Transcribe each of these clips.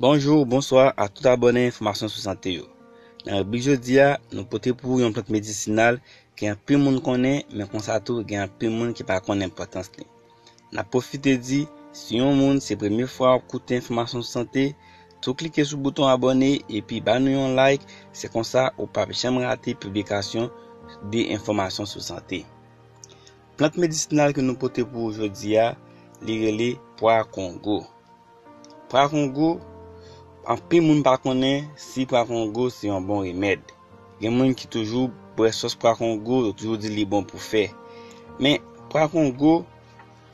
Bonjour, bonsoir a tout abòne enfòmasyon sou sante yo. Nan ribrik jodi a, nou pote pou ou yon plant medisinal ke anpil moun konnen men konsa tou gen anpil moun ki pa konnen enpòtans li. Nap pwofite di, si yon moun se premye fwa wap koute enfòmasyon sou sante, tou klike sou bouton abòne epi ba nou yon like se konsa ou pap janm rate piblikasyon de enfòmasyon sou sante. Plant medisinal ke nou pote pou ou jodi a, li rele pwa kongo. Pwa kongo, anpil moun pa konnen si pwa kongo se yon bon remèd. Gen moun ki toujou bwè sòs pwa kongo, yo toujou di li bon pou fè. Men, pwa kongo,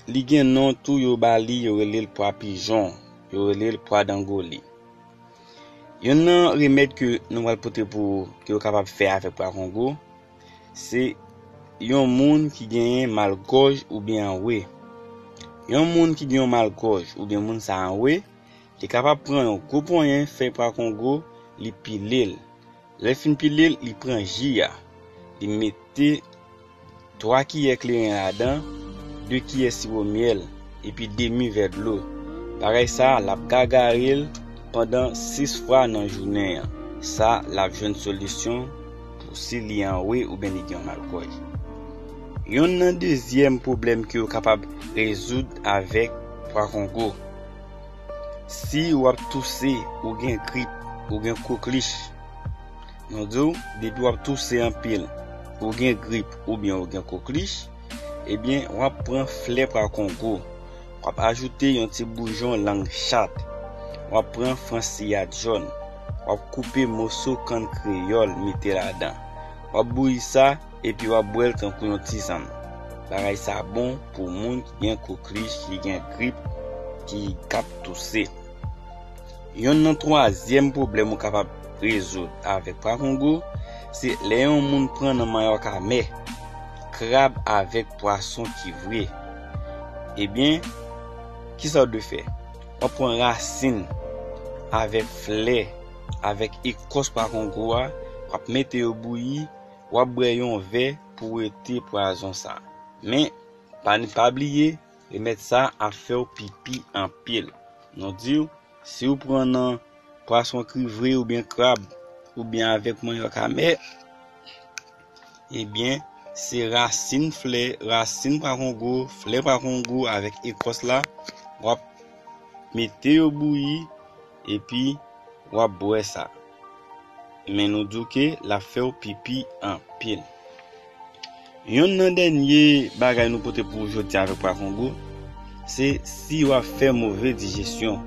li gen non tou yo ba li, yo rele l pwa pijon, yo rele l pwa dangoli. Yonn nan remèd ke nou pral pote pou ou, ke ou kapab fè avèk pwa kongo, Se Yon moun ki genyen mal gòj oubyen anwe. Yon moun ki gen yon mal gòj oubyen moun sa anwe, li kapab pran yon gwo ponyen fèy pra kongo, li pile l. Lè l fin pile l, li pran ji a, li mete 3 kiyè kleren ladan, 2 kiyè siwo myèl. epi demi vè dlo. Bagay sa a, l ap gagare l pandan 6 fwa nan jounen an. Sa l ap jwenn solisyon pou si li anwe oubyen li gen yon malkòj. Yonn nan dezyèm pwoblèm ke yo kapab rezoud avèk pwa kongo. Si w ap touse, ou gen grip, ou gen koklich. Nou di w, depi w ap touse anpil, ou gen grip oubyen ou gen koklich. Ebyen wap pran flè pra kongo wap ajoute yon ti boujon lang chat wap pran fransiyad jòn wap koupe moso kann kreyòl mete ladan wap bouyi sa epi wap bwèl tankou yon tizann bagay sa bon pou moun ki gen koklij ki gen grip ki kap touse. Yonn nan twazyèm pwoblèm ou kapab rezoud avèk pwa kongo, se lè yon moun pran nan manyòk amè, krab avèk pwason ki vre. Ebyen, kisa ou dwe fè? Wap pran rasin avèk flè avèk ekòs pwa kongo a, wap mete yo bouyi, wap bwè yon vè pou wete pwazon sa. Men, pa bliye. Remèd sa ap fèw pipi anpil. Nou diw siw pran nan pwason kri vre oubyen krab oubyen avèk manyòk amè ebyen se rasin flè rasin pwa kongo flè pwa kongo avèk ekòs la wap mete yo bouyi epi wap bwè sa. Men nou di w ke l ap fè w pipi anpil. Yonn nan dènye bagay nou pote pou ou jodi a avèk Pwa Kongo, se si w ap fè move dijesyon,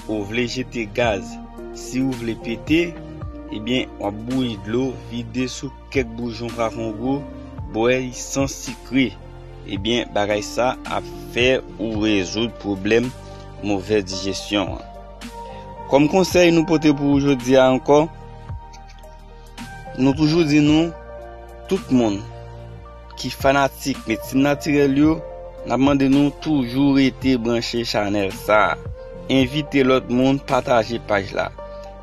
ou vle jete gaz, si ou vle pete, ebyen w ap bouyi dlo, vide sou kèk boujon Pwa Kongo, bwè li san sikre. Ebyen bagay sa ap fè ou rezoud pwoblèm move dijesyon an. Kòm konsèy nou pote pou ou jodi a ankò, nou toujou di nou, tout moun ki fanatik medsin natirèl yo, n ap mande nou toujou rete branche chanèl sa a. Envite lòt moun pataje paj la,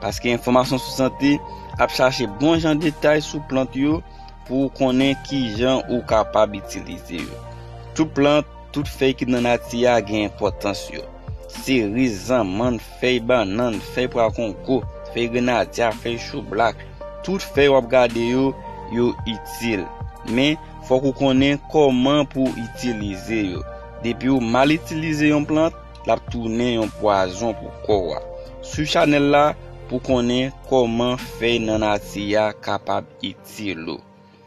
paske enfòmasyon sou sante ap chache bon jan detay sou plant yo pou ou konnen ki jan ou kapab itilize yo. Tout plant. Tout fèy ki nan nati a gen enpòtans yo. Seriz, zanmann, fèy bannann, fèy pwa kongo, fèy grenadya, fèy choublak, tout fèy w ap gade yo, yo itil. Men, fòk ou konnen kòman pou w itilize yo. Depi w mal itilize yon plant, l ap tounen yon pwazon pou kò w. Swiv chanèl la pou w konnen kòman fèy nan nati a kapab itil ou.